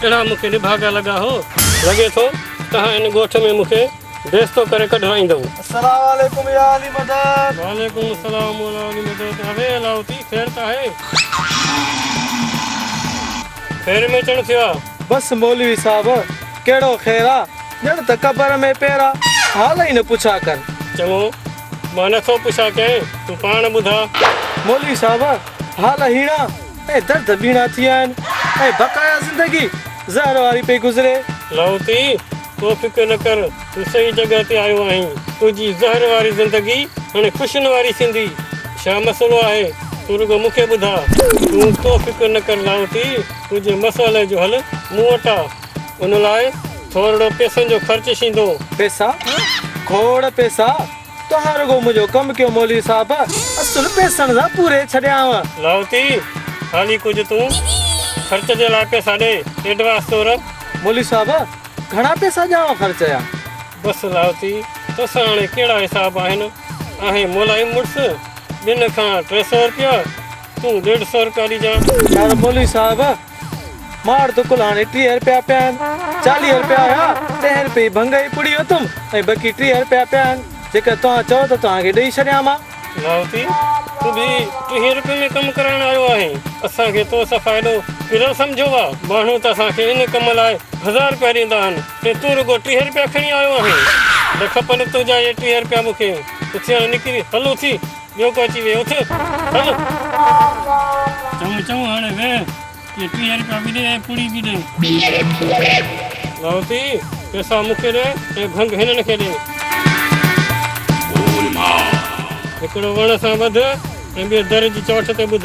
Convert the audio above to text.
اهڙا مون کي نڀاڳا لڳا هو. لڳي ٿو توهان ان ڳوٺ ۾ مون کي بيستو ڪري ڪڍرائيندؤ. السلام عليڪم يا علي مدد. وعليڪم السلام مولا علي مدد. اوي علاوتي خير ته آهي. خير ۾ چڻ ٿيو آ. بس مولوي صاحب ڪهڙو خير آ. ڄڻ ته قبر ۾ پير آ. حال ئي نه پڇا ڪر. چڱو مان نه ٿو پڇا ڪنهن تون پاڻ ٻڌا. مولوي صاحب حال هيڻا. ۽ درد ٻيڻا ٿي آهن ۽ بقايا زندگي زهر واري پئي گذري. لاهوتي، تون فڪر نه ڪر، تون صحيح جڳهه تي آيو آهين. تنهنجي زهر واري زندگي هاڻي خوشين واري ٿيندي. ڇا مسئلو آهي؟ تون رڳو مون کي ٻڌاء. تون ڪو فڪر نه ڪر لاهوتي، تنهنجي مسئلي جو حل مون وٽ آ. ان لاء ٿورڙو پيسن جو خرچ شيندو. پيسا؟ کوڙ پيسا؟ توهان رڳو منهنجو ڪم ڪيو مولوي صاحب، اصل پيسن سان پوري ڇڏيانء. لاهوتي، خالي ڪجهه تون خرچ جي لاء پيسا ڏي، ايڊوانس طور. مولوي صاحب، گهڻا پيسا ڏيانء خرچ جا؟ بس لاهوتي، توسان هاڻي ڪهڙا حساب آهن؟ آهين ملائم مڙس، ٻن کان ٽي سؤ رپيا، تون ڏيڍ سؤ رپيا ڏجانء. پر مولوي صاحب! ماڙ دڪل هاڻي ٽيهه رپيا پيا آهن، چاليهه رپيا هيا، تنهن رپئي جي ڀنگ ۽ پڙي اٿم ۽ بقي ٽيهه رپيا پيا آهن، جيڪر توهان چئو ته توهان کي ڏئي ڇڏيان مان. لاهوتي، تون به ٽيهه رپين ۾ ڪم ڪرائڻ آيو آهين، اسان کي تو سان فائدو گهريل سمجهيو آهي، ماڻهو ته اسان کي ان ڪم لاء هزار رپيا ڏيندا آهن ۽ تون رڳو ٽيهه رپيا کڻي آيو آهين، نه کپن تنهنجا اهي ٽيهه رپيا مون کي، اتيان نڪري هل اٿي ٻيو ڪو اچي ويهي اٿ هل. چڱو چڱو هاڻي ويهه. اهي ٽيهه رپيا به ڏي ۽ پوڙهي به ڏي. ڀائوتي پئسا مون کي ڏي ۽ ڀنگ هنن کي ڏي. هڪڙو وڻ سان ٻڌ ۽ ٻيو در جي چوٽ تي ٻڌ.